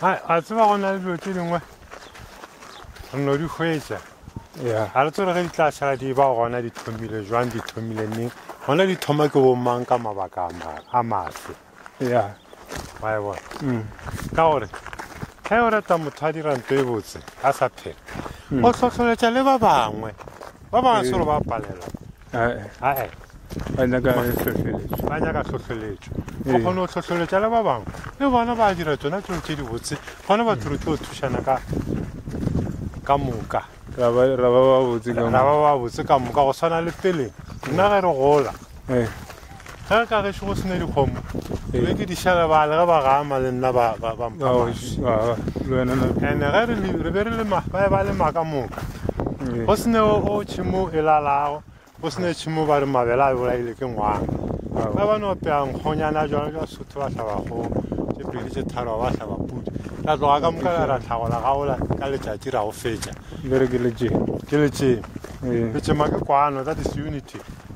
a tseba go na le dilo tse dingwe re no di hwetsa ga re tsere ge di tla šala di ba gona di thomile jwang di thomile neng gona di thoma ke bomang ka mabaka a maswe wa e bona mm. ka gore ge o reta motho a dira nto e botse a sa phela mm. o tlhotlholetša le ba bangwe ba bangwe selo ba palela ae ba nyaka hlohleletšo ba nyaka hlohleletšo go kgone go hlohleletša le ba bangwe le bona ba dira tsona tseo tse dibotse gone batho re tlo thušana ka ka moka ra ba ba botse ka moka go swana le pele nna ge re gola ge re ka gešo go sena dikgomo ke be ke di šalebale ge ba gama le nna ba ba- ba mpha Ao, mašwi. š- ah, le wena na- ene ge re le- re be re le ma- ba ba le maka moka eh, go sene o o tšhimo e lalago go sene tšhimo ba re mabele a bolaile ke ngwana ao. ba ba no peya nkgonyana jona jwa sotho ba hlaba kgogo tše pedi tše tharo ba hlaba pudi ra tloga ka moka ra ra tlhagola gaola ka letšatši ra go fetša le re ke le tše ke letšeng Eh, letšema ke kwano that is unity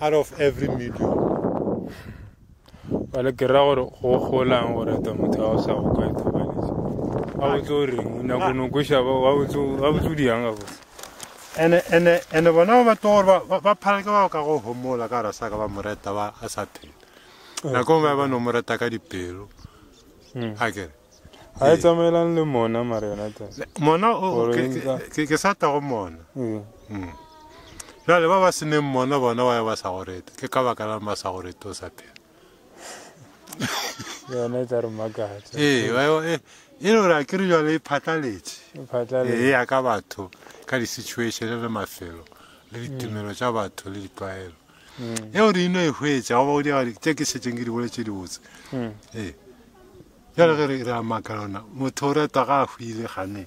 out of every million bale ke ra gore go golang gore ta motho ga o sa go ka ithobaletse a botse o reng o nyako no kweša wa botse o diyang ga botse ene bona ba batlo gore ba phaleke ba ka go homola ka rasa ka ba moreta ba a sa phela nakong ba ba no moreta ka dipelo a kere ga e tsamaelane le mona mare yona ta mona o- o- Gore ke- e nka- ke- ke sa tago mona ee Mm. jale ba ba seneng mona bona wa ya ba sa go rete ke ka baka la ba sa go rete o sa phela yona e tla re makatša ee wa yo- e e le gore a ke re jale e phatlaletše e e phatlalela ya ka batho ka di-situation le mafelo le ditumelo tša batho le ditlwaelo mm. eo re ino e hwetša goba go diagadi tše ke šetšeng ke di bole tše dibotse mm. ee jale ge re a maka lona motho o retwa ga a hwile gane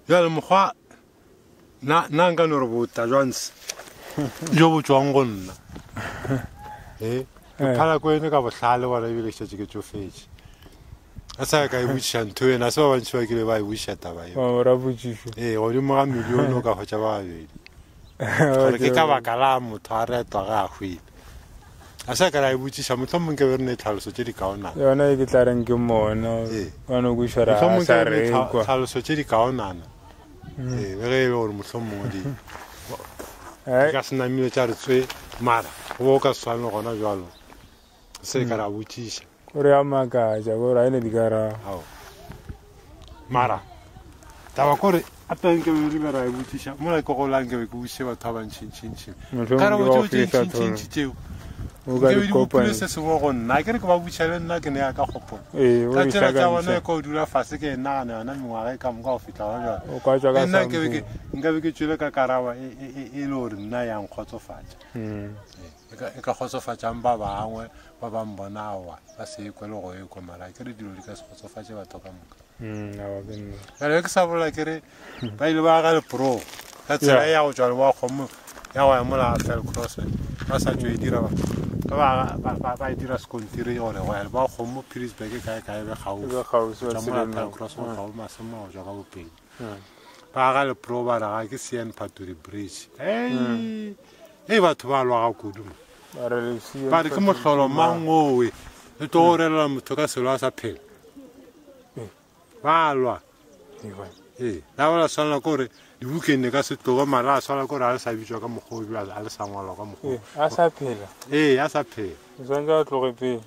jale mokgwa na nka no re bota jwanse jo bo tswang go nna ee eh, phala ko ene ka bohlale bona ebile šetše ke tsofetše a sa ka e botšiša ntho ena se ba bantši ba kile ba e botšiša taba eora botšišo ee godimo ga milione o ka hwetša ba babedi gore ke ka baka la motho a retwa ga a hwile a sa ka la e botšiša motlho mongke be re ne tlhaloso tše di kaonana yona e ke tla reng ke mona bano ee. kušora a sa rekwa tlhaloso tše di kaonana mm. ee be ge e le gore motlho mongwe di eh? ka senamile tša re tswe mara go bo o ka swane gona jalo se ka ra botšiša gore a makatša gore a e ne di ka rago mara taba kore a teng ke be re ra e botsiša mo la ikogolang ke be ke botšiše batho ba bantšhintšhintšhi ka re botšeotšhintšhintšhi tseo nkebedikopile se sengwe go nna ke re ke ba botšiša le nna ke ne ya ka kgopola ee, ka tsela tsa bona e ka o dula fase ke e nagana yona mengwaga e ka moka go fitlha gona jale nna nkabe ke tswile ka karaba e, e, e, e le gore nna yang kgotsofatša hmm. ee. e ka, e ka kgotsofatšang ba bangwe ba ba mbona aowa ba se ekwe le go ekwa mara ke re dilo di ka se kgotsofatše batho ka moka mm, bjale ke sa bolela ke re ba ile ba aga leporogo ka tsela ya go tšwa le wa kgomo ya go ya mola fel cross ba sa tšo e dira ba e dira sekontiri gore go ya le ba kgomo pilisburg kae kae be kgausitšwa mola fel cross go kgao masemo go tšwa ka bopedi ba aga lepro ba raga ke sean phatori bridge ei ei batho ba lwaga kudu mo ba re ke mohlolo mang owe le tlo go relela motho ka selo a sa phela ba lwa ee la ba la swanela ke gore di-weekende ka se tloge mara a swanela ke gore a le sa bitswa ka mokgwa o a le sa ngwalwa ka mokgwa a sa phela ee a sa phela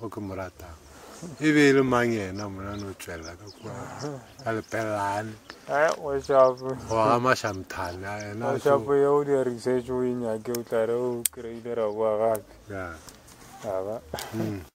o ke mo ratang e be e le mang yena monane o tswelela ka kua ka lepelelane goga mašamthane a enashapo ye o dia research o e nyake o tlare o kry-ile ra boa gape aba hmm.